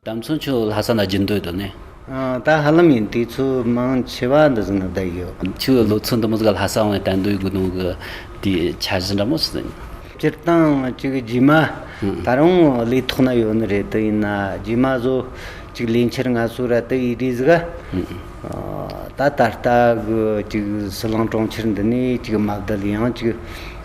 དམ་ཚོ་ཁྱོད་ལྷ་ས་ལ་བརྒྱུད་འདོད་དོ་ནས། ད་ཧ་ལམ་ཡིན་དུས་ཚོད་མང་ཆེ་བ་འདི་ཟིན་ན་བསྡད་ཡོད། ཁྱོད་ལོ་ཚོད་འདི་མོ་ཟིག་ལྷ་ས་འོང་བའི་དད་འདུན་དགོས་དོན་གི་དེའི་འཆར་གཞི་འདྲ་མོ་ཞིག་ཡིན། སྤྱིར་བཏང་གཅིག་རྗེས་མ་ད་རུང་ལས་ཐོག་ན་ཡོད་ནི་རེད་དེ་ཡིན་ན་རྗེས་མ་བཟོ་གཅིག་ལས་འཆར་ང་ཚོ་ར་དེ་ཡི་དྲིས་གཟིགས་ཨ། ད་ད་ལྟ་གི་གཅིག་སྲིད་ལང་གྲོང་ཁྱེར་འདི་ནས་གཅིག་དམའ་བརྡལ་ཡང་གཅིག་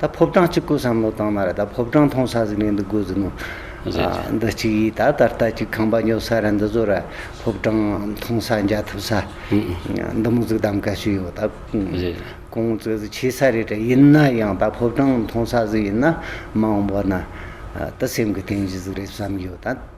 ད་ཕོ་བྲང་གཅིག་དགོས་བསམ་བློ་བཏང་ན་ར་ད་ཕོ་བྲང་མཐོང་ས་ཟིག་ནས་འདི་དགོས་ཟིག་ནོ། འདི་གཅིག་ཡིས་ད་ད་ལྟ་གཅིག་ཁང་པ་ཉོ་ས་ར་འདི་བཟོ་ར་ཕོ་བྲང་མཐོང་ས་འཇའ་ཐུབ་ས་འདི་མོ་ཟིག་གདམ་ག་ཞུས་ཡོད་ད། ཀོང་བཙོས་ཟིག་བྱས་ས་རེད་དྲ་ཡིན་ན་ཡང་ད་ཕོ་བྲང་མཐོང་ས་ཟིག་ཡིན་ན་མང་བོ་ན་ད་སེམས་གི་རྟེན་གཞི་ཟིག་རེད་བསམ་ཡོད་ད།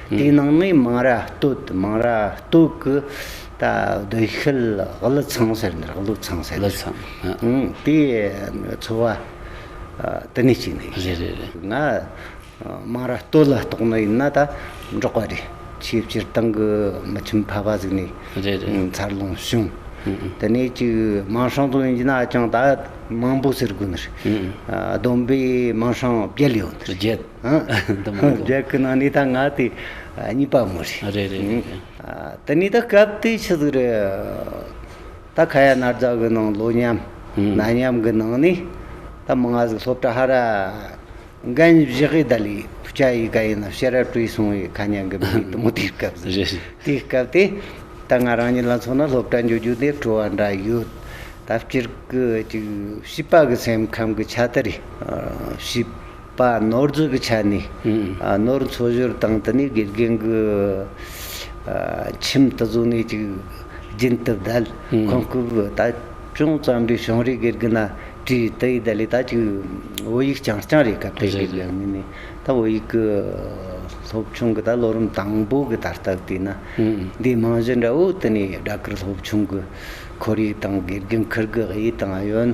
དེའི་ནང་ནས་མང་ར་སྟོད་མང་ར་སྟོད་ཀྱི་ད་སྡོད་ཤལ་གླུ་ཚང་ཟེར་འདིར་གླུ་ཚང་ཟེར་གླུ་ཚང་དེ་འཚོ་བ་དེ་ནས་སྐྱེས་ནས་ཡིན་རེད་རེད་རེད་ང་མང་ར་སྟོད་ལ་གཏོགས་ནས་ཡིན་ན་ད་འབྲོག་པ་རེད་ཆེས་སྤྱིར་བཏང་གི་མི་ཁྱིམ་ཕ་བ་ཟིག་ནས་རེད་རེད་མཚར་ལོངས་བྱུང་དེ་ནས་ཅིག་མང་ཧྲང་དུ་ཡིན་ན་ཅང་ད་མང་པོ་ཟེར་དགོས་ནི་རེད་བསྡོམས་པས་མང་ཧྲང་བརྒྱད་ཡོད་རེད་བརྒྱད། འདི་མང་པོ། རྒྱལ་ཁའི་ནང་ནས་ད་ང་དེ་གཉིས་པ་མོ་རེད། རེད་རེད་རེད་རེད། དེ་ནས་ད་སྐབས་དེ་ཆི་ཟིག་རེད། ད་ཁ་ཡ་ནར་རྫ་གི་ནང་ལོ་མཉམ་ན་མཉམ་གི་ནང་ནས་ད་མི་ང་ཟིག་སློབ་གྲྭ་ཧ་ར་འགན་བཞེས་གི་ད་ལི་ཕུ་ཆ་ཡི་ག་ཡི་ན་ཤེས་རབ་བྲིས་སོང་ཡི་ཁ་ཉན་གི་མི་རེད་དུ་མོ་དེའི་སྐབས་ཟིག་རེད། དེའི་སྐབས་དེ་ད་ང་རང་ཉིད་ལ་མཚོན་ན་སློབ་གྲྭ་འཇུག་རྒྱུ་དེ་སྤྲོ་བ་འདྲ་ཡོད། ད་སྤྱིར་གི་ཅིག་བྱིས་པ་གི་སེམས་ཁམས་གི་ཆ་དེ་རེད། བྱིས། པ་ནོར་འཛོལ་གྱི་ཆ་ནས་ནོར་འཚོལ་ཞོར་དང་དུ་ནས་དགེ་རྒན་གྱི་ཁྱིམ་དུ་བཟོ་གནས་ཅིག་རྒྱུན་དུ་བརྡལ། ཁོང་སྐབས་ད་ཅུང་བརྩམས་པའི་ཞིང་རའི་དགེ་རྒན་ན་ཀྲིའི་ཏི་ཡིས་ལས་ད་ཅིག་བོད་ཡིག་རྐྱང་རྐྱང་རེད་སྐབས་དེའི་དགེ་རྒན་མི་ནས་ད་བོད་ཡིག་གི་སློབ་ཆུང་གི་ད་ལོ་རིམ་དང་པོ་གི་ད་ལྟ་བལྟས་ན་འདིའི་རྨང་གཞི་འདྲ་བོ་དུ་ནས་སྦྲགས་ཀྱི་སློབ་ཆུང་གི་ཁོར་ཡུག་དང་དགེ་རྒན་ཁུར་གྱི་དབྱེ་སྟངས་ཡོད།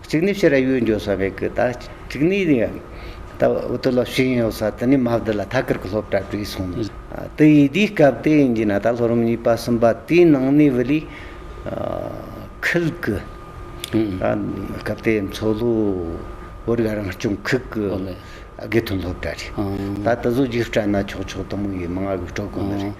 གཅིག་ནི་ཕྱི་ར་ཡུལ་འཇོག་ས་མེད་གི་ད་གཅིག་ནི་ཡང་ད་འུ་ཏུ་ལོ་ཤིང་ཡོད་ས་དེ་ནི་མ་བསྡུ་ལ་ཐ་ཀར་གི་སློབ་གྲྭ་བྲིས་སོང་ནས་དུ་ཡིས་དེའི་སྐབས་དེ་ཡིན་གྱི་ན་ད་ལྷོ་རུམ་གཉིས་པ་གསུམ་པ་དེའི་ནང་ནས་བི་ལི་ཁིལ་གི་སྐབས་དེའི་མཚོ་ལྷོ་བོད་རིགས་རང་སྐྱོང་ཁུལ་གི་དགེ་ཐོན་སློབ་གྲྭ་རེད་ད་དུ་ཟོ་རྒྱུགས་སྤྲད་ན་ཆོག་ཆོག་དུ་མོ་ཡིས་མང་གི་སྤྲོད་དགོས་ནི་རེད།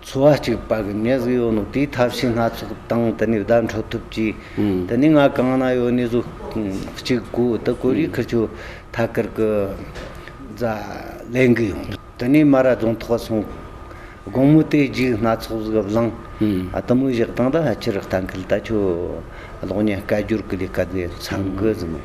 འཚོ་བ་གཅིག་པ་གི་གནས་སུ་ཡོད་ནོ་དེའི་ཐབས་ཤེས་སྣ་ཚོགས་དང་དེ་ནས་བརྡ་འཕྲོད་ཐུབ་ཀྱི། དེ་ནས་ང་གང་ན་ཡོད་གནས་སུ་གཅིག་དགོས་དེ་ཀོ་རིའི་ཁུལ་ཆུ་ཐ་ཀར་གི་རྫ་ལེན་གི་ཡོང། དེ་ནས་མ་ར་རྫོང་ཐོག་སོང། དགོང་མོ་དེ་རྗེས་སྣ་ཚོགས་གཟུགས་བཟང་དུ་མོ་བཞག་སྟངས་ད་ཕྱིར་གཏན་འཁེལ་ད་ཁྱོད་གློག་བརྙན་སྐད་སྒྱུར་གི་ལས་ཀ་དེ་ཚང་གི་ཟིན་མོད།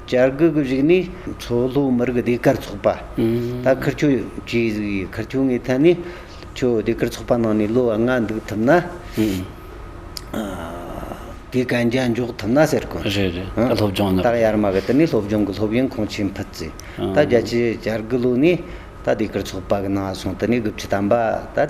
བྱ་རྒོད་ཀྱི་རིགས་ནི་མཚོ་ལྷོའི་མི་རིགས་སྡེ་དཀར་ཚོགས་པ། ད་ཁུར་ཆུ་བྱུས་གཟིགས་ཡི་ཁུར་ཆུ་ངའི་ཐད་ནས་ཁྱོད་སྡེ་དཀར་ཚོགས་པ་ནང་ནས་ལོ་ལྔ་འདུག་ཐུབ་ན། དེ་གན་རྒྱ་འཇོག་ཐུབ་ན་ཟེར་གོ། རེད་རེད་ད་སློབ་སྦྱོང་ནི། ད་ཡར་མར་གི་དེ་ནས་སློབ་སྦྱོང་གི་སློབ་ཡོན་ཁོང་ཆེད་འཕུད་རྩིས། ད་རྒྱ་ཆེའི་བྱ་རྒོད་ལོ་ནས་ད་སྡེ་དཀར་ཚོགས་པ་གི་ནང་སོང་དེ་ནས་དགུ་བཅུ་ཐམ་པ་ད།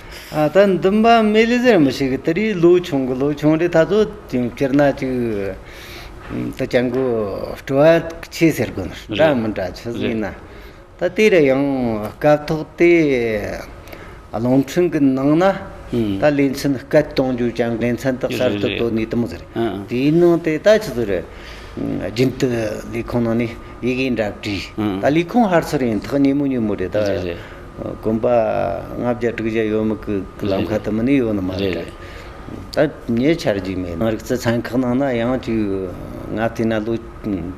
ད་འདུན་པ་མེ་ལི་ཟེར་མི་ཞིག་གིས་དེ་རིང་ལོ་ཆུང་གི་ལོ་ཆུང་རེད་ད་གཟོད་སྤྱིར་ན་ཅིག་ད་སྤྱང་དགུ་སྤྲོ་བ་ཆེ་ཟེར་དགོས་ནི་འདྲ་མི་འདྲ་ཆུ་ཟིག་ན་ད་དེ་རུ་ཡང་སྐབས་ཐོག་དེ་རླུང་འཕྲིན་གི་ནང་ན་ད་ལས་མཚོན་སྐད་གཏོང་རྒྱུ་ཅང་དགེ་མཚན་དག་གསར་དུ་བཏོད་ནས་དུམ་ཟེར་དེའི་ནང་དེ་ད་ཆུ་ཟིག་རེད་རྒྱུན་དུ་ལས་ཁུངས་ནང་ནས་ཡི་གེ་འདྲ་བྲིས་ད་ལས་ཁུངས་ཧར་ཚུར་ཡིན་ཐག་ཉེ་མོ་ཉེ་མོ་རེད་ད། དགོན་པ་ལྔ་བརྒྱ་དྲུག་བརྒྱ་ཡོད་མི་ཁུག་ལམ་ཁ་དུ་མི་ནི་ཡོད་ནི་མ་རེད། ད་ཉེ་ཆར་རྒྱུས་མེད་ནང་རིག་རྩལ་ཚན་ཁག་ནང་ན་ཡང་རྒྱུས་ང་བལྟས་ན་ལོ་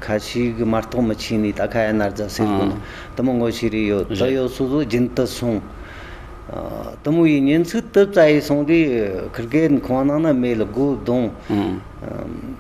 ཁ་ཤིག་གི་མ་གཏོགས་མི་ཆིག་ནི་ད་ཁ་ཡ་ནར་རྫ་སེར་དགོན་ནང་དུ་མི་ངོ་ཤེས་རིག་ཡོད་དུ་ཡོད་སོ་སོ་རྒྱུན་དུ་སོང། དུ་མོ་ཡི་ཉིན་ཚིག་དུ་རྩ་ཡིག་སོང་དུས་ཁིར་གའི་ཁང་ནང་ན་མེ་ལ་སྒོ་བརྡུང།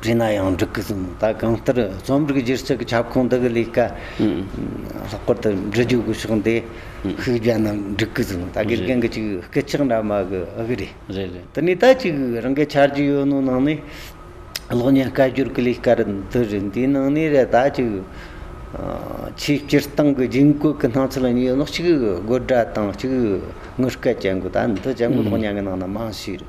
བྲིས་ན་ཡང་འགྲིག་གི་འདུག་ད་གང་ལྟར་རྩོམ་རིག་སྒྱུ་རྩལ་གྱི་ཁྱབ་ཁོངས་འདི་གི་ལས་ཀ་ལྷག་པར་དུ་འབྲི་རྒྱུ་གི་ཕྱོགས་འདི་ཤུགས་བརྒྱབ་ན་འགྲིག་གི་འདུག་ད་དགེ་རྒན་གྱི་ཅིག་སྐད་ཆག་འདྲ་མ་གི་ཨ་གི་རེད། དེ་ནས་ད་ཅིག་རང་གི་འཆར་གཞི་ཡོད་ནོ་ནང་ནས་གློག་བརྙན་སྐད་སྒྱུར་གྱི་ལས་ཀ་རེད་འདི་རེད་འདིའི་ནང་ནས་རེད་ད་ཅིག་ཆེས་སྤྱིར་བཏང་གི་རྒྱུན་བཀོད་ཀྱི་སྣང་ཚུལ་གཉིས་ཡོད་ནོ་གཅིག་དགོད་སྒྲ་དང་གཅིག་དངུལ་སྐད་ཅན་གྱི་ད་འདི་བྱ་འགུལ་གློག་བརྙན་གྱི་ནང་ན་མང་ཤོས་རེད།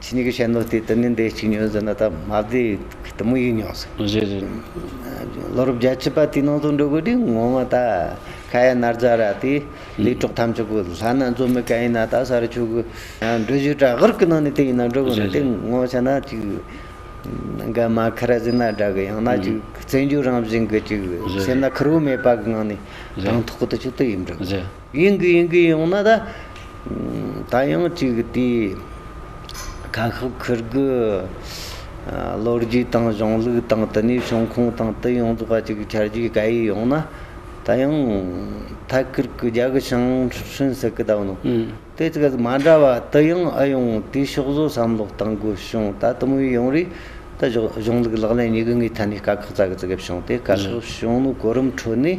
ཁྱེད་གཉིས་ཀྱི་བཤད་ནོར་དེ་དུ་ནི་འདི་གཅིག་ཉོས་ཟེར་ན་ད་མ་བདེ་དུ་མོ་ཡིད་ཉོག་ཟེར། རེད་རེད། ལོ་རབས་བརྒྱ་བྱིས་པ་དེའི་ནང་དུ་འགྲོ་དགོས་དུས་ངོ་མ་ད་ཁ་ཡ་ནར་འཛའ་ར་དེ་ལས་གྲོགས་ཐམས་ཅད་པོ་ལྷ་ན་འཛོམས་མི་ག་ཡིན་ན་ད་ས་རུ་ཆུ་གི་འགྲུལ་བཞུད་བྲག་དགར་གི་ནང་ནས་དེ་ཡིན་ན་འགྲོ་དགོས་ན་དེ་ངོ་ཆ་ན་ཅིག་འགའ་མ་ཁ་ར་ཟིན་ན་འདྲ་གི་ཡང་ན་ཅིག་བཙན་བྱོལ་རང་བཞིན་གྱི་ཅིག་སེམས་ན་ཁུར་བོ་མེད་པ་གི་ངང་ནས་དྲང་ཐོག་གི་དུ་ཆུ་དུ་ཡིབ་འགྲོ་དགོས། ཡིན་གྱི་ཡིན་གྱི་ཡོང་ན་ད། ད་ཡང་གཅིག་དེ་ཁ་ཤགས་ཁུར་དགོས། ལོ་རྒྱུས་དང་གཞུང་ལུགས་དང་དེ་ནས་བྱུང་ཁུངས་དང་དེ་ཡོངས་རྫོགས་པ་ཅིག་འཆར་རྒྱུའི་དགའ་ཡིས་ཡོང་ན། ད་ཡང་ཐད་ཀར་གྱི་རྒྱ་གི་ཞིང་ཧྲུན་ཟེར་གི་གདའ་ནོ། དེ་ཅིག་གཟིགས་མ་འདྲ་བ་དེ་ཡང་ཨེ་ཡོང་དེའི་ཕྱོགས་བཟོ་བསམ་བློ་གཏང་དགོས་བྱུང་ད་དུམ་བུའི་ཡོང་རེས་ད་གཞུང་ལུགས་ལག་ལེན་གཉིས་ཀྱི་ངའི་ཐད་ནས་དཀའ་ཁག་ཙག་ཙིག་བྱུང་སྟེ་དཀའ་ཁག་བྱུང་ནོ་གོ་རིམ་ཁྲོད་ནས།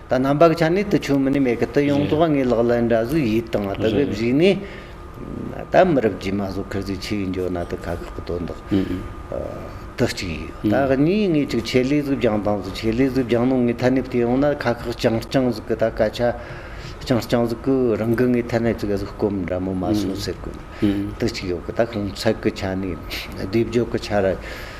ད་རྣམ་པ་གི་ཆ་ནས་དུ་ཆོས་མི་ནི་མེད་གི་དུ་ཡོངས་རྫོགས་ངའི་ལག་ལེན་འདྲ་གཟུགས་ཡིད་དང་ལྡན་པས་བཞུགས་ནས། ད་མི་རབས་རྗེས་མ་སོགས་ཁེར་ཚུལ་ཆེ་བའི་འཇོ་ན་དུ་ཁ་ཁག་གི་དོན་དག། དུ་གཅིག་ཡོད་ད་གཉིས་ངེས་ཅིག་ཆེད་ལས་གཟུགས་རྒྱང་དང་གཟུགས་ཆེད་ལས་གཟུགས་རྒྱང་ནོ་ངའི་ཐ་སྙད་དུ་ཡོང་ན་ཁ་ཁག་རྐྱང་རྐྱང་གཟུགས་གི་ད་སྐད་ཆ། རྐྱང་རྐྱང་གཟུགས་གི་རང་གི་ངའི་ཐ་སྙད་ཅིག་གཟུགས་སྐོམ་འདྲ་མོ་མ་སོང་ཟེར་གི། དུ་གཅིག་ཡོད་གི་ད་གང་ཚད་གི་ཆ་ནས་སྡེབ་སྦྱོར་གི་ཆ་ར།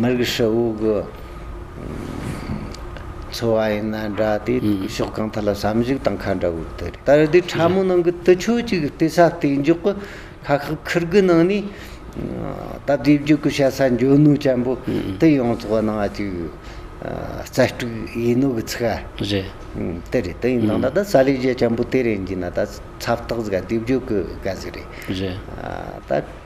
མི་རིགས་ཧྲིལ་བོ་གི་འཚོ་བ་ཡིན་ན་འདྲ་སྟེ་ཕྱོགས་གང་ཐད་ལ་བསམ་གཞིག་དང་ཁ་འདྲ་བོ་དེ་རེད། ད་རེས་དེ་ཕྲ་མོ་ནང་གི་དུད་ཆོས་ཅིག་བལྟས་ས་བལྟས་མགྱོགས་ཀྱི་ཁ་ཁག་ཁུར་དགུ་ནང་ནས་སྟབས་བདེ་བརྒྱུད་ཀྱི་བཤད་ས་འཇོན་ནུས་ཅན་པོ་དེ་ཡོང་ཚོགས་གནང་བ་ཅིག་རྩལ་སྤྲུགས་ཡིན་ནོ་གི་ཚིག་ཨ། རེད། དེ་རེད་དེ་ཡིན་ནང་ད་ད་ས་ལས་རྒྱ་ཆེན་པོ་དེ་རེད་འགྱིན་ན་ད་ཚབ་ཐག་གཟིགས་ཨ་དུས་བརྒྱུད་ཀྱི་དགའ་ཟིག་རེད། རེད། ད།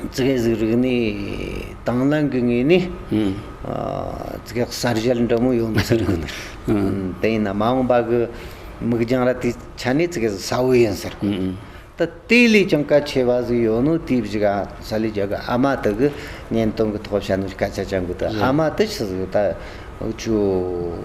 བཙུགས་གཟིགས་རིག་གནས་དྭངས་བླངས་ཀྱི་ངོས་ནས་བཙུགས་གསར་བཞེངས་འདྲ་མོ་ཡོང་ཟེར་གི་འདུག་དེ་ཡིན་ན་མ་འོངས་པ་གི་མིག་རྒྱང་ར་དེ་ཆ་ནས་བཙུགས་གཟིགས་ས་བོ་ཡིན་ཟེར་གི་འདུག་ད་དེ་ལས་ཀྱང་གལ་ཆེ་བ་ཟིག་ཡོད་ནོ་དེ་བཞི་ག་ས་ལས་རྒྱ་གི་ཨ་མ་དེ་གི་བརྙན་སྟོན་གི་ཐོག་བྱ་ནོ་སྐད་ཆ་བྱ་འགུ་དེ་ཨ་མ་དེ་ཆི་ཟིག་ད་ཁྱོད།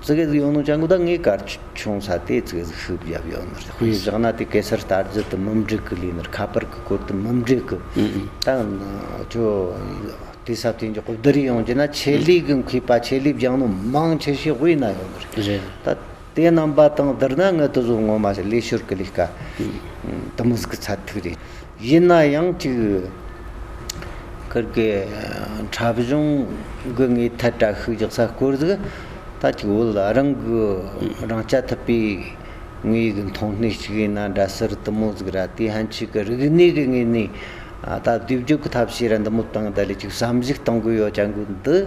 ཙི་གེ་ཟིག་ཡོང་ནོ་ཅང་གུ་དག་ངའི་གར་ཆུང་ས་དེ་ཙི་གེ་ཟིག་ཤུབས་བརྒྱབ་ཡོང་ནོ་ལྷུས་བཞག་ན་དེ་གེ་སར་དར་རྒྱུ་དུ་མུམ་སྒྲིག་གི་ལུས་ནོར་ཁ་པར་གི་སྐོར་དུ་མུམ་སྒྲིག་གི་ད་ཁྱོ་དེ་ས་དེ་འཇོག་བདུད་རི་ཡོང་རྒྱུ་ན་ཆེད་ལུས་གི་མཁོས་པ་ཆེད་ལུས་བརྒྱང་ནོ་མང་ཆེ་ཤས་དབུས་ན་ཡོང་ནོ་རེད་ད། དེ་རྣམ་པ་དང་བསྡུར་ན་ངའི་དུ་བཟོ་ངོ་མ་ཞིག་ལས་ཤོར་གི་ལས་ཀ་དུ་མུས་ཀྱི་ཚད་ཐིག་རེད། ཡིན་ན་ཡང་གཅིག་ཁུར་གི་འཁྲབ་གཞུང་དགོས་ངེས་ཐད་དྲ་ཤུགས་རྒྱག་ས་བསྐོར་གཟིགས་ད་གཅིག་བོད་རང་གི་རང་སྐྱ་ཐུབ་པའི་ངོས་ཀྱི་མཐོང་སྣེ་ཞིག་ཡིན་ན་འདྲ་ཟུར་དུ་མོ་གཟིགས་ར་དེ་ཧན་ཆིག་གི་རིག་གནས་ཀྱི་ངོས་ནས་ད་བསྡུས་བརྗོད་ཀྱི་ཐབས་ཤེས་ར་འདི་མོ་བཏང་ད་ལས་གཅིག་བསམ་གཞིག་གཏང་དགོས་ཡོད་ཀྱང་དགོས་འདུག།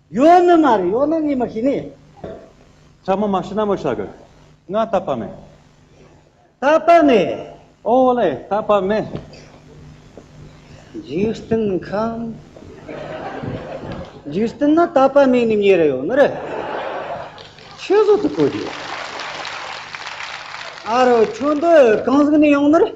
ཡོ་ནི་མ་རེད་ཡོ་ནི་ངས་མ་ཤེས་ནི། ཤ་མོ་མ་ཤི་ན་མོ་ཤ་གི། ང་རྟ་པ་མེད། རྟ་པ་མེད། ཨོ་ལེ་རྟ་པ་མེད། འཇིག་རྟེན་ཁམས། འཇིག་རྟེན་ན་རྟ་པ་མེད་ནི་ངེས་རེད་ཡོ་ནི་རེད། ཆོས་ཟོ་དུ་གོ་རྒྱུ། ཨ་རོ་ཁྱོད་འདི་གང་ཟིག་ནས་ཡོང་ནི་རེད།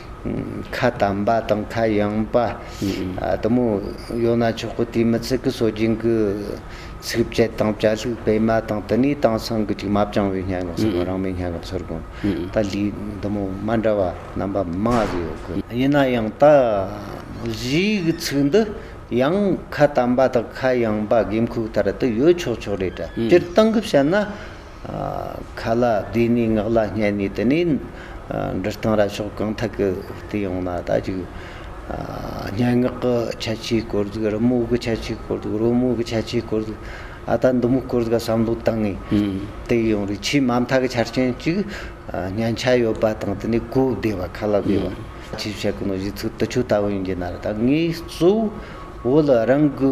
ཁ་དམ་པ་དང་ཁ་ཡངས་པ་དུ་མོ་ཡོད་ན་ཆོག་གི་དེའི་མི་ཚེ་གི་སྲོལ་རྒྱུན་གྱི་ཚིག་བཅད་དང་བཅའ་ལྷུག་སྤེལ་མ་དང་དེ་ནས་དེང་སང་གི་དྲི་མ་སྦྱང་བའི་སྙན་ངག་ཟེར་དགོན་རང་མོས་སྙན་ངག་ཟེར་དགོན་ད་ལི་དུ་མོ་མ་འདྲ་བ་རྣམ་པ་མང་གི་ཡོད་གི། ཡིན་ན་ཡང་ད་གཞི་གི་ཚིག་འདི་ཡང་ཁ་དམ་པ་དང་ཁ་ཡངས་པ་དགོས་མཁོ་ལྟར་དུ་ཡོད་ཆོག་ཆོག་རེད་དྲ་སྤྱིར་བཏང་གི་བཤད་ན། ཁ་ལ་བདེ་ནས་ངག་ལ་སྙན་ནས་དེ་ནས་འབྲི་སྟངས་ར་ཕྱོགས་གང་ཐད་ཀྱི་དེ་ཡོང་ན་ད་ཅིག་སྙན་ངག་གི་ཁྱད་ཆོས་སྐོར་དུ་རི་མོ་གི་ཁྱད་ཆོས་སྐོར་དུ་རོལ་མོ་གི་ཁྱད་ཆོས་སྐོར་དུ་ཨ་ད་འདི་མོ་སྐོར་དུ་བསམ་བློ་བཏང་ངེས་དེ་ཡོང་རེ་ཆེས་མ་མཐའ་གི་ཆ་རྐྱེན་གཅིག་སྙན་ཆ་ཡོད་པ་དང་དེ་ནས་གོ་བདེ་བ་ཁ་ལ་བདེ་བ། ཆེས་བཤད་ཀྱི་ནོར་གཞི་ཚིག་དུ་ཆུ་ལྟ་བུ་ཡིན་གྱི་ན་རེ་ད་ངས་གཙོ་བོ་ལ་རང་གི།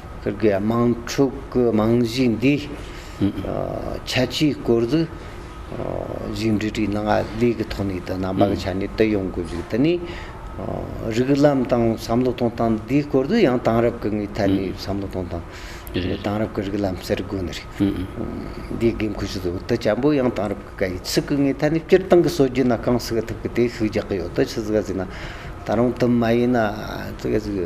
སྤུར་དགེ་དམངས་ཕྲུག་གི་རྨང་གཞི་འདི་ཁྱད་ཆོས་སྐོར་དུ་ཞིག་འབྲི་བྲིས་གནང་ཡ་ལས་ཀྱི་ཐོག་ནས་དུ་ནང་པ་གི་ཆ་ནས་དུ་ཡོང་དགོས་ཞིག་དུ་ནས་རིགས་ལམ་དང་བསམ་བློ་གཏོང་སྟངས་འདིའི་སྐོར་དུ་ཡང་དེང་རབས་ཀྱི་ངའི་ཐད་ནས་བསམ་བློ་གཏོང་སྟངས་རེད་དེང་རབས་ཀྱི་རིགས་ལམ་ཟེར་དགོས་ནི་རེད་འདིའི་དགོས་མཁོ་ཞིག་དུ་དུ་བྱ་འབུ་ཡང་དེང་རབས་ཀྱི་གའི་ཚིག་གི་ངའི་ཐད་ནས་སྤྱིར་བཏང་གི་སྲོལ་རྒྱུན་ན་གང་ཟེར་གི་ཐུབ་ཀྱི་དེ་ཤུགས་རྒྱག་གི་ཡོད་དུ་ཆུ་ཟེར་ག་ཟེར་ན་ད་རུང་དུ་མ་ཡིན་ན་ཚིག་ག་ཟེར་གི་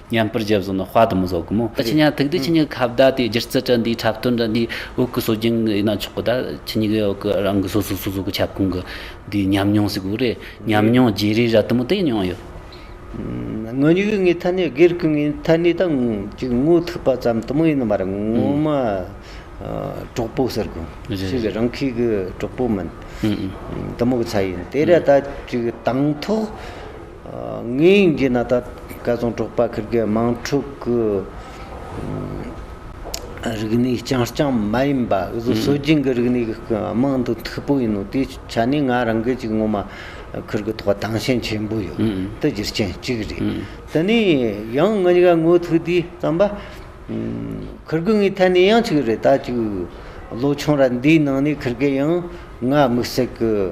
མཉམ་པར་རྒྱལ་བཟོ་ནི་དཔའ་དུ་མི་བཟོ་གི་མོད། ཁྱི་ཉག་ཐུག་དུས་ཁྱི་ཉག་གི་ཁ་བརྡ་དེ་སྒྱུ་རྩལ་དྲ་འདིའི་འཁྲབ་སྟོན་དྲ་འདིའི་དབུ་གུ་སོ་རྒྱུན་ཡིན་ན་ཆོག་གི་ད་ཁྱི་ཉིག་གི་དབུ་གུ་རང་གི་སོ་སོའི་སོ་སོ་གི་ཁྱབ་ཁོངས་ཀྱི་དེའི་ཉམས་མྱོང་ཟིག་དགོས་རེད་ཉམས་མྱོང་བརྗེ་རེས་ར་དུ་མོ་དེ་མྱོང་ཡོད། ངོ་ཉིག་ངའི་ཐ་སྙད་སྒེར་གྱི་ངའི་ཐ་སྙད་དང་གཅིག་ངོ་ཐུག་པ་ཙམ་དུ་མོ་ཡིན་ནི་མ་རེད་ངོ་མ་གྲོགས་པོ་ཟེར་དགོས་གཅིག་རང་ཁྱི་གི་གྲོགས་པོ་མིན་དུ་མོ་གི་ཚ་ཡིན་དེ་ར་ད་གཅིག་དང་ཐོག། ངའི་དབྱིན་ཇི་ནཱ་ད་སྐལ་བཟང་གྲོགས་པ་ཁིར་གའི་དམངས་ཕྲུག་གི་རིག་གནས་རྐྱང་རྐྱང་མ་ཡིན་པ་སོ་སྦྱིན་གྱི་རིག་གནས་ཀྱི་རྨང་དུ་མཐུག་པོ་ཡིན་ནོ་དེའི་ཆ་ནས་ང་རང་སྐད་ཅིག་ངོ་མ་ཁིར་གའི་ཐོག་དྭངས་ཤིང་ཆེན་པོ་ཡོད་དེ་རྒྱུ་རྐྱེན་གཅིག་རེད། དེ་ནས་ཡང་ང་གཉིས་ཀ་ངོ་ཐུག་དུས་བསམ་པ། ཁིར་གུ་ངའི་ཐད་ནས་ཡང་གཅིག་རེད་ད་ཅིག་ལོ་ཆུང་ར་འདིའི་ནང་ནས་ཁིར་གའི་ཡང་ང་དམིགས་བསལ་གྱི།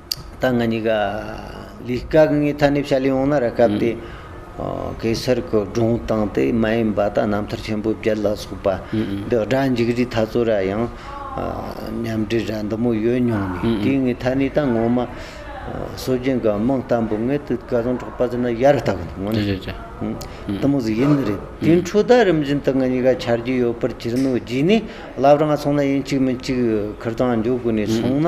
ད་ང་གཉིས་ཀ་ལི་སྐག་ངའི་ཐ་སྙད་ཕྱ་ལི་ཡོང་ན་ར་སྐབས་དེ་གེ་སར་གི་སྒྲུང་གཏང་སྟེ་མ་ཡིན་པ་ད་རྣམ་ཐར་ཆེན་པོའི་བརྒྱད་ལ་སོགས་པ་འདི་སྒྲ་འཇིགས་རིས་ཐ་ཚོ་ར་ཡང་ཉམས་འདྲིས་ར་འདི་མོ་ཡོད་མྱོང་མེད་དེ་ངའི་ཐ་སྙད་ད་ངོ་མ་སོ་རྒྱན་ག་མང་ལྟ་འབུ་ངའི་དུས་ག་རང་གྲོགས་པ་ཟེར་ན་ཡར་ལྟ་གི་འདུག་ངོ་ནས་དུ་མོ་ཟེར་ཡིན་རེད་དེ་འཕྲོ་ད་རིམ་བཞིན་དུ་ང་གཉིས་ཀ་ཆར་རྒྱུས་ཡོད་པར་གྱུར་ནོ་རྗེས་ནས་ལབ་རང་སོང་ན་ཡིན་གཅིག་མིན་གཅིག་ཁུར་དང་འཇོག་དགོས་ནས་སོང་ན་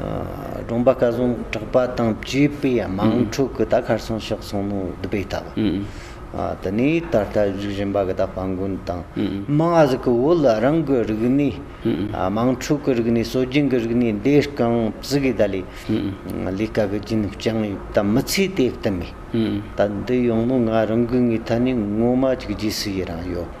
སྒྲོམ་པ་བཀའ་བཟང་གྲགས་པ་དང་བཅས་པས་དམངས་ཁྲོད་ཀྱི་རྟ་ཁར་སོང་ཤག་སོང་མོ་བསྡུ་བས་བལྟ་བ། དེ་ནས་ད་ལྟ་བཞུགས་བཞིན་པ་གི་ད་སྤ་མགོན་དང་རྨང་གཟིགས་ཀྱི་བོད་ལ་རང་གི་རིག་གནས། དམངས་ཁྲོད་ཀྱི་རིག་གནས་སྲོལ་རྒྱུན་གྱི་རིག་གནས་འདི་རྐང་བཟི་གིས་ད་ལས་ལས་ཀ་གི་རྒྱུན་བསྐྱངས་ཡོད་པ་མི་ཚེའི་དེབ་ཏུ་མེད། ད་འདི་ཡོང་མོ་ང་རང་གི་ངའི་ཐད་ནས་ངོ་མ་གཅིག་རྗེས་སུ་ཡི་རང་ཡོད།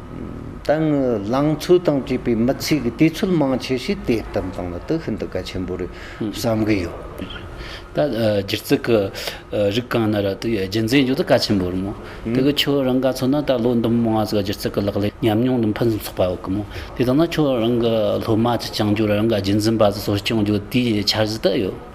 དང། ལང་ཚོ་དང་བཅས་པའི་མི་ཚེ་གི་དུས་ཚོད་མང་ཆེ་ཤོས་དེ་ལྟར་བཏང་བ་དེ་ཤིན་ཏུ་གལ་ཆེན་པོ་རེད་བསམ་གྱི་ཡོད། ད་སྒྱུ་རྩལ་གྱི་རིགས་གང་ན་ར་དེ་རྒྱུན་འཛིན་རྒྱུ་དེ་གལ་ཆེན་པོ་རེད་མོད། དེ་གི་ཁྱོད་རང་ག་ཚོད་ན་ད་ལོ་འདི་མོ་ང་ཚོ་སྒྱུ་རྩལ་གྱི་ལག་ལེན་ཉམས་མྱོང་དུ་ཕུན་སུམ་ཚོགས་པ་ཡོད་གི་མོད། དེ་ལྟ་ན་ཁྱོད་རང་གི་སློབ་མ་གཅིག་ཀྱང་རྒྱུ་རང་ག་རྒྱུན་འཛིན་པ་དེ་ཚོར་སྐྱོན་བརྗོད་དེའི་འཆར་གཞི་དེ་ཡོད།